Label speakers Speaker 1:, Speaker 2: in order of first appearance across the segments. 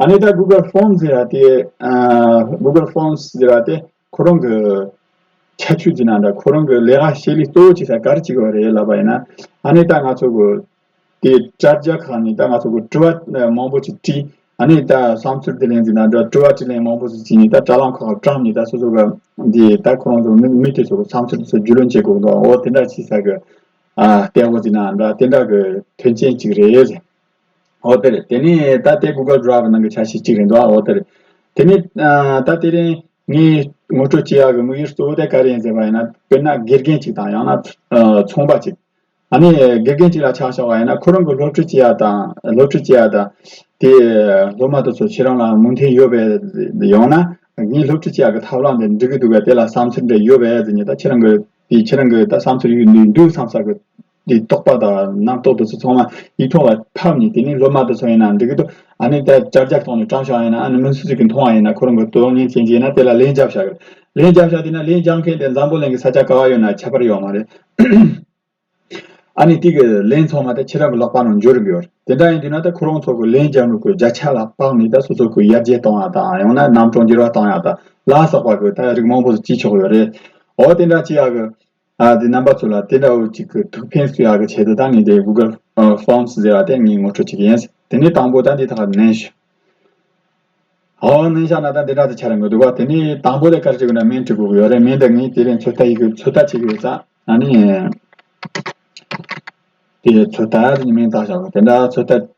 Speaker 1: ཨ་ནེ་ད Google Forms ཟེར་བ་དེ Google Forms ཟེར་བ་དེ་ཁོ་རང་གི་ཁྱད་ཆོས་ཀྱི་ནང་དང་ཁོ་རང་གི་ལས་ཀ་བྱེད་ལུགས་གཙོ་བོ་ཅིག་ཟེར་ག་རེ་བྱེད་དགོས་པ་རེད་ལབ་པ་ཡིན་ན་ཨ་ནེ་ད་ང་ཚོ་གི་དེ་དྲ་རྒྱ་ཁག་ནས་ད་ང་ཚོ་གི་དྲི་བ་མང་པོ་ཅིག་དྲིས་ཨ་ནེ་ད་བསམ་ཚུལ་དེ་ལེན་ཟིན་ན་དྲི་བ་དྲིས་ལན་མང་པོ་ཅིག་བྱས་ནས་ད་དྲ་ལམ་ཁག་ཁག་དྲངས་ནས་ད་སོ་སོ་གི་དེ་ད་ཁོ་རང་ཚོ་མི་མི་དེ་ཚོ་གི་བསམ་ཚུལ་དེ་ཚོ་རྒྱུས་ལོན་བྱེད་དགོས་འདུག་འོ་དེ་འདྲ་བྱས་ཟེར་གི་ཨ་ལྟས་བོ་ཅིག་ན་འདྲ་དེ་འདྲ་གི་དོན་ཆེན་ཅིག་རེད་ཟེར། འོ་དེ་རེད། དེ་ནི་ད་ལྟའི Google Drive ནང་གི་ཆ་ཤས་གཅིག་རེད་འདུག་ཨ་འོ་དེ་རེད། དེ་ནི། ད་དེ་རིང་ངས་ངོ་སྤྲོད་བྱེད་ཡག་གི་དམིགས་ཡུལ་གཙོ་བོ་དེ་ག་རེ་ཡིན་ཟེར་བ་ཡིན་ན། དཔེར་ན་དགེ་རྒན་གཅིག་དང་ཡང་ན། ཚོང་པ་གཅིག། ད་ནི་དགེ་རྒན་གཅིག་ལ་ཆ་བཞག་པ་ཡིན་ན་ཁོ་རང་གི་སློབ་ཁྲིད་བྱེད་ཡག་དང་སློབ་ཁྲིད་བྱེད་ཡག་དང། དེས་སློབ་མ་དེ་ཚོ་ཁྱེད་རང་ལ་མོས་མཐུན་ཡོད་པས་ཡང་ན། ངས་སློབ་ཁྲིད་བྱེད་ཡག་གི་ཐབས་ལམ་དེ་འགྲིག་གི་འདུག་པས་དེ་ལ་བསམ་ཚུལ་འདྲ་ཡོད་པས་ཟེར་ནས་ད་ཁྱེད་རང་གི། དེས་ཁྱེད་རང་གི་ད་བསམ་ཚུལ་ཡོད་འདུག་བསམ་ས་གི། འདི་རྟོགས་པ་དང་རྣམ་རྟོག་དུ་ཚོགས་མ་ཡིག་མཐོང་བ་ཐབས་ནི་དེ་ནི་སློབ་མ་དུ་ཚོགས་ཡིན་ནའང་འགྲིག་གི་འདུག་ཨ་ནི་ད་ཅར་ཅར་མཐོང་ནས་དྲང་བཞག་ཡིན་ནའང་ཨ་ནི་མི་སུ་ཞིག་གིས་མཐོང་བ་ཡིན་ན་ཁོ་རང་གི་དོན་གཉེར་མཁན་གྱིས་ན་དེ་ལ་ལན་རྒྱབ་བཞག་གི་རེད། ལན་རྒྱབ་བཞག་དུས་ན་ལན་རྒྱབ་མཁན་དེ་འཛམ་བུ་གླིང་གི་ས་ཆ་ག་བ་ཡོད་ན་ཁྱད་པར་ཡོད་མ་རེད། ཨ་ནི་དེ་གི་ལན་ཚོགས་མ་ད་ཁྱེད་རང་གི་ལོག་པ་ནང་འཇོག་རིགས་ཡོད་རེད། དེ་འདྲ་ཡིན་དུས་ན་ད་ཁོ་རང་ཚོ་གི་ལན་རྒྱབ་ནུབ་གི་བརྒྱ་ཆ་ལ་དཔག་ནས་ད་སོ་སོ་གི་ཡར་རྒྱས་གཏོང་ཡག་དང་ཡང་ན་རྣམ་གྲངས་འགྱུར་བ་གཏོང་ཡག་དང་ལ་སོགས་པ་གི་ད་རིགས་མང་པོ་ཞིག་བྱེད་ཆོག་གི་ཡོད་རེད། འོ་དེ་འདྲ་བྱེད་ཡག་གི། ཨ་དེ་རྣམ་པ་ཚོ་ལ་དེ་འདྲ་བོ་གཅིག་གི་ཐུགས་ཕན་སུ་ཡག་གི་ཆེད་དུ་ད་ངས་དེ Google Forms ཟེར་བ་དེ་ངས་ངོ་སྤྲོད་བྱེད་ཀྱི་ཡིན། དེ་ནས་དང་པོ་ད་འདི་དག་ནན་ཞུ། ཧོ་ནན་བཞག་ན་ད་འདི་འདྲ་དེ་ཆགས་རན་དགོས་འདུག་བ། དེ་ནས་དང་པོ་དེ་ཀར་བྱེད་དགོས་ན་མིང་བྲི་དགོས་ཀྱི་ཡོད་རེད་མིང་དེ་ངས་དེ་རིང་ཚོད་ལྟ་ཡི་གི་ཚོད་ལྟ་བྱེད་ཀྱི་ཡོད་ས། ད་ནི། དེ་ཚོད་ལྟ་ཡི་མིང་བཏགས་བཞག་གོ་དེ་འདྲ་ཚོད་ལྟ།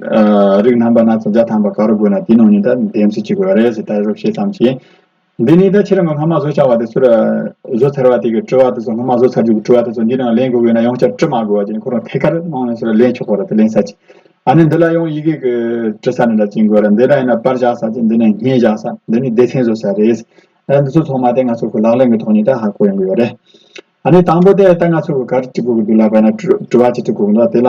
Speaker 1: རིགས་རྣམ་པ་སྣ་ཚོགས་བརྒྱ་ཐམ་པ་ག་རུ་དགོས་ན་དེའི་ནང་ནས་ད་འདེམས་སུ་བཅུག་གི་རེད་ཟེར་ད་རུ་ཤེས་ཙམ་གྱིས། འདི་ནས་ད་ཁྱེད་རང་གི་སྔ་མ་བཟོ་བྱ་བ་དེ་ཚོར། བཟོ་ཚར་བ་དེ་གི་དྲི་བ་དེ་ཚོ་སྔ་མ་བཟོ་ཚར་རྒྱུ་གི་དྲི་བ་དེ་ཚོ་འདིའི་ནང་ལེན་དགོས་ན་ཡང་བསྐྱར་དྲི་མ་དགོས་བ་ཅན་ཁོ་རང་ཐད་ཀར་ནང་ནས་སོར་ལེན་ཆོག་པ་རེད་དེ་ལེན་ས་ཅི། ཨ་ནི་འདི་ལ་ཡང་ཡི་གེ་གི་དྲི་ས་ནི་ལ་ཅི་དགོས་ར་འདི་ལ་ཡིན་ན་པར་བཞག་ས་ཅི་འདི་ནས་བརྙན་བཞག་ས་འདི་ནས་སྡེ་ཚན་བཟོ་ས་རེད། ད་འདི་ཚོ་ཚང་མ་ད་ང་ཚོ་གི་ལག་ལེན་གི་ཐོག་ནས་ད་ཧ་གོ་ཡོང་གི་ཡོད་རེད། ཨ་ནི་དང་པོ་དེ་ད་ང་ཚོ་གི་ག་རུ་དྲི་དགོས་ཀྱི་འདུག་ལབ་པ་ཡིན་ན་དྲི་བ་ཅི་དྲི་དགོས་ཀྱི་འདུག་ད་དེ་ལ་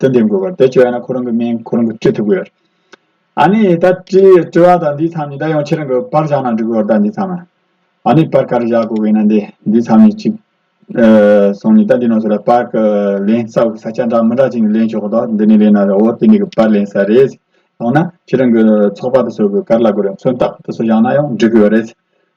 Speaker 1: དོན་འདི་འགོད་པར་བེད་སྤྱོད་ཡོད་ན་ཁོ་རང་གི་མིང་ཁོ་རང་གིས་བྲི་ཐུབ་ཀྱི་ཡོད། ཨཱ་ནི། ད་བྲིས་བྲི་བ་དང་འདིའི་མཚམས་གཉིས་ད་ཡང་ཁྱེད་རང་གི་པར་བཞག་ན་འགྲིག་གི་འོ་ད་འདིའི་མཚམས་ཨཱ་ནི། པར་ག་རེ་བཞག་དགོས་ཀྱི་ཡིན་ན་འདི་འདིའི་མཚམས་གཉིས་གཅིག། སོང་ནས་ད་འདི་ནང་ཚུད་ལ་པར་གི་ལན་ས་དགོས་ས་ཆ་འདྲ་མི་འདྲ་ཅིག་ནས་ལེན་ཆོག་གི་དོག་འདི་ནས་ལེན་ན་རེད་འོ་དེ་འདི་གི་པར་ལེན་ས་རེད། ཡང་ན་ཁྱེད་རང་གི་ཚོགས་པ་དེ་ཚོ་གི་ག་རེ་ལ་དགོས་རེད་མཚོན་རྟགས་དེ་ཚོ་བཞག་ན་ཡང་འགྲིག་གི་ཡོད་རེད།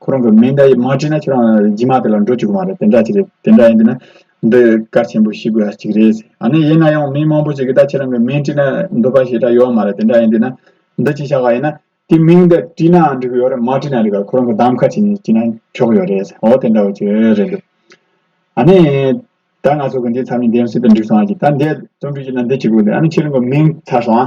Speaker 1: ཁོ་རང་གི་མིང་དེ་མ་བྲིས་ན་ཁྱོད་རང་རྗེས་མ་དེ་ལ་འགྲོ་བཅུག་གི་མ་རེད་དེ་འདྲ་ཅིག་རེད་དེ་འདྲ་ཡིན་དུས་ན་འདི་གལ་ཆེན་པོ་ཤེས་དགོས་ཡ་ཅིག་རེད་ཟེར་ཨ་ནི་ཡིན་ན་ཡང་མི་མང་པོ་ཞིག་གིས་ད་ཁྱེད་རང་གི་མིང་བྲིས་ན་འགྲོ་པ་ཞིག་འདྲ་ཡོད་མ་རེད་དེ་འདྲ་ཡིན་དུས་ན་འདི་ཅིག་བྱ་ག་ཡིན་ན་དེ་མིང་དེ་བྲིས་ནའང་འགྲིག་གི་ཡོད་རེད་མ་བྲིས་ན་རིག་ག་ཁོ་རང་གི་གདམ་ཁ་ཅིག་ནས་བྲིས་ན་ཆོག་ཡོད་རེད་ཟེར་འོ་དེ་འདྲ་བ་ཅིག་རེད་འདུག་ཨ་ནི་ད་ང་ཚོ་གི་འདིའི་ཚབ་མི་འདེམས་སྲིད་དུ་འགྲིག་སོང་ཨ་ཅིག་ད་འདས་རྩོམ་བྲིས་ཀྱི་ན་འདི་ཅིག་དགོས་འདུག་ཨ་ནི་ཁྱེད་རང་གི་མིང་ཚར་སོང་ཨ།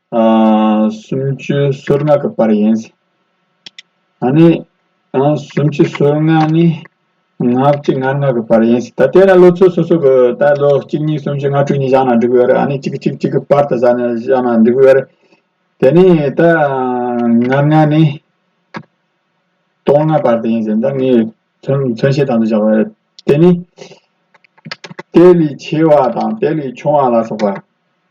Speaker 1: སུམ་ཅུ་སོར་ལྔ་གི་བར་ཡིན། ད་ནི། སུམ་ཅུ་སོར་ལྔ་ནི། ང་གཅིག་ང་ལྔ་གི་བར་ཡིན། ད་དེ་ན་ལོ་ཚོད་སོ་སོ་གི་ད་ལོ་གཅིག་གཉིས་གསུམ་བཞི་ལྔ་དྲུག་གཉིས་བཞག་ན་འགྲིག་བས་རེད། གཅིག་གཅིག་གཅིག་གི་བར་དུ་བཞག་ན་འགྲིག་བས་རེད། དེ་ནི་ད་ང་ལྔ་ནི། སྟོང་ལྔ་བར་དུ་ཡིན་ཟེར་ན་ངས་མཚོན་བྱེད་དང་དུ་བཞག་པ་རེད། དེ་ནི། དེ་ལས་ཆེ་བ་དང་དེ་ལས་ཆུང་བ་ལ་སོགས་པ།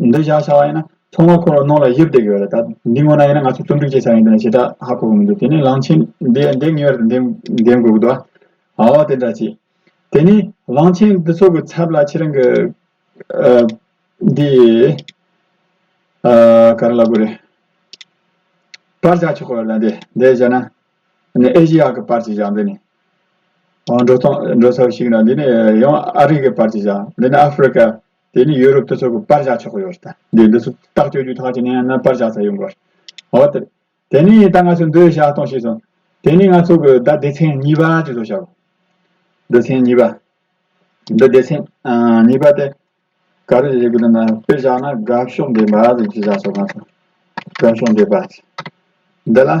Speaker 1: འདི་བཞག་བྱ་བ་ཡིན་ན་ཚོང་བ་འཁོར་བ་ནང་ལ་བཞི་བརྡེག་ཡོད་རེད་ད། འདི་སྔོན་ན་ཡིན་ན་ང་ཚོས་རྩོམ་སྒྲིག་བྱེད་ཆ་ཡིན་དེ་ནས་བྱེད་ཐབས་ཧ་གོ་གི་མི་འདུག་དེ་ནས་གླང་ཆེན་འདི་འདི་ངེས་པར་དུ་འདེམས་འདེམས་དགོས་ཀྱི་འདུག་ཨ། ཨ་བ་དེ་འདྲ་བྱས། དེ་ནས་གླང་ཆེན་འདི་ཚོ་གི་ཚབ་ལ་ཁྱེད་རང་གི། ཨ། འདི། ཨ། ག་རེ་ལབ་དགོས་རེད། པར་བཞག་ཆོག་གི་རེད་ལ་འདི་འདི་བཞག་ན། ཨ་ཨེ་ཤི་ཡ་གི་པར་ཅིག་བཞག་འདི་ནས། འགྲོ་ཚོང་འགྲོ་ས་ཞིག་ཡིན་ན་འདི་ནས་ཡང་ཨ་རི་གི་པར་ཅིག་བཞག་འདི་ནས་ཨ་ཧྥི་རི་ཀ། དེ་ནི་ཡོ་རོབ་དུ་ཚོགས་པའི་པར་བཞག་ཆོག་གི་ཡོད་རེད་ད། འདི་འདི་ཚོ་རྟགས་བཅོས་རྒྱུ་ཐག་བཅད་ནས་ཡང་ན་པར་བཞག་ཚར་ཡོང་གི་རེད། འོ་དེ། དེ་ནི་ད་ང་ཚོས་འདི་བཞག་གཏོང་ཤེས་སོང། དེ་ནི་ང་ཚོ་གི་ད་སྡེ་ཚན་གཉིས་པ་ཅིག་བཟོ་བྱ་གོ། སྡེ་ཚན་གཉིས་པ། འདི་སྡེ་ཚན། གཉིས་པ་སྟེ། ག་རེ་བྱེད་དགོས་དོན་ན་དཔེ་བཞག་ན་དགའ་ཕྱོགས་འདས་པ་ཅིག་བཞག་ཆོག་ག་ཚོད། དགའ་ཕྱོགས་འདས་པ། འདི་ལ།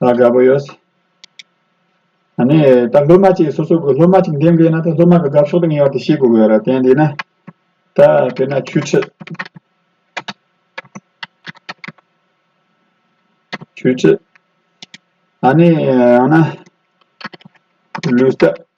Speaker 1: ལ་དགའ་པོ་ཡོད། ད་ནི་ད་སློབ་མ་གཅིག་སོ་སོ་གི་སློབ་མ་གཅིག་འདེམས་དགོས་ན་ད་སློབ་མ་གི་དགའ་ཕྱོགས་དང་ངེས་བར་དུ་ཤེས་དགོས་གི་ཡོད་རེད་དེ་འདི་ན་ད་དེ་ན་ཆོས་ཁྲིད། ཆོས་ཁྲིད། ད་ནི་ཡང་ན་ལུས་རྟགས།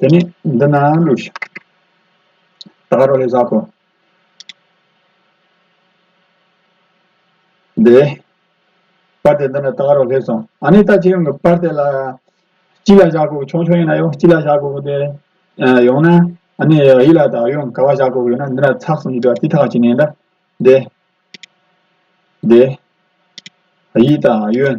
Speaker 1: དེ་ནས་འདི་ན་ཀླུ་ཞིག། ད་རོ་ལས་བཟའ་ཏོ། དེ། པར་དེ་འདི་ན་ད་རོ་ལས་སོང། ཨ་ནི་ད་ཅི་ཡོང་གི་པར་དེ་ལ། ཅི་ལ་བཞག་གོ་ཆུང་ཆུང་ཡིན་ན་ཡོང་ཅི་ལ་བཞག་གོ་དེ། ཡོང་ན། ཨ་ནི་ཡིད་ལ་ད་ཡོང་ག་བ་བཞག་གོ་ཡོད་ན་འདི་ན་ཚགས་གསུམ་གྱི་དྲ་ཐིག་ཐག་གཅིག་ནས་འདྲ། དེ། དེ། ཡིད་ད་ཡོན།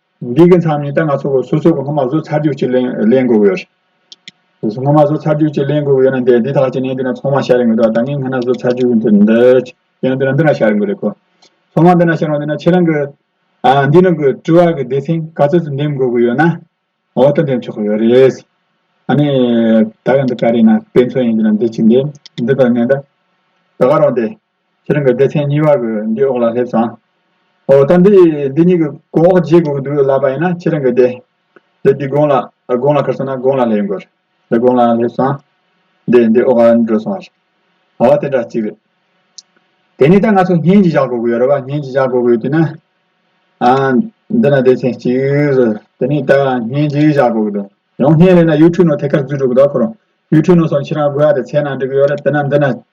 Speaker 1: འདི་གི་མཚམས་ཉིད་ལྟར་ང་ཚོ་སོ་སོ་གི་སྔོན་མ་བཟོ་ཚར་རྒྱུག་ཅིག་ལེན་དགོས་ཡོད། སྔོན་མ་བཟོ་ཚར་རྒྱུག་ཅིག་ལེན་དགོས་ཡོད་ན་འདི་དག་ཅིག་ནི་འདི་ནས་ཚང་མ་ཤར་ཡོང་གི་འདུག་ད་ངས་སྔོན་ན་བཟོ་ཚར་རྒྱུག་འདི་འདི་ཡང་འདི་ན་འདི་ན་ཤར་ཡོང་གི་རེད་ཁོ། ཚང་མ་འདི་ན་ཤར་ཡོང་འདི་ན་ཁྱེད་རང་གི། འདི་རང་གི་དྲི་བ་གི་སྡེ་ཚན་ག་ཚོད་ཅིག་འདེམས་དགོས་ཀྱི་ཡོད་ན། འོག་ཏུ་འདེམས་ཆོག་གི་ཡོད་རེད། ཨ་ནི། ད་ཡང་འདི་ག་རེད་ན་དཔེ་མཚོན་ཡིན་འདི་ན་འདི་ཅིག་འདེམས་འདི་དང་ངན་འདྲ། ད་ག་རང་འདེམས། ཁྱེད་རང་གི་སྡེ་ཚན་གཉིས་པ་གི་འདི་འོག་ལ་སླེབས་སོང། འོ་ད་འདི་འདི་གཉིས་ཀྱི་གོ་འོག་བརྗེ་དགོས་ཀྱི་འདུག་ལབ་པ་ཡིན་ན་ཁྱེད་རང་གི་དེ་དེ་འདི་དགོང་ལ་དགོང་ལ་ཁར་སོང་ན་དགོང་ལ་སླེབས་དགོས། དེ་དགོང་ལ་སླེབས་སོང། འདི་འདི་འོག་ལ་འགྲོ་སོང་བ་རེད། འོ་དེ་འདྲ་གཅིག་རེད། དེ་ནས་ད་ང་ཚོ་བརྙན་གྱིས་བཞག་དགོས་ཀྱི་ཡོད་རེད་པ་བརྙན་གྱིས་བཞག་དགོས་ཀྱི་ཡོད་དུས་ན། ཨ། འདི་ན་སྡེ་ཚན་གཅིག་རེད། དེ་ནས་ད་བརྙན་གྱིས་བཞག་དགོས་ཀྱི་འདུག་ཡང་བརྙན་ལེན་ན YouTube ནང་ཐད་ཀར་འཛུལ་འགྲོ་ཀྱི་འདུག་ཁོ་རང YouTube ནང་སོང་ཁྱེད་རང་དགོས་ཡག་དེ་ཚལ་ནང་འགྲིག་གི་ཡོད་རེད་དེ་ན་འདི་ན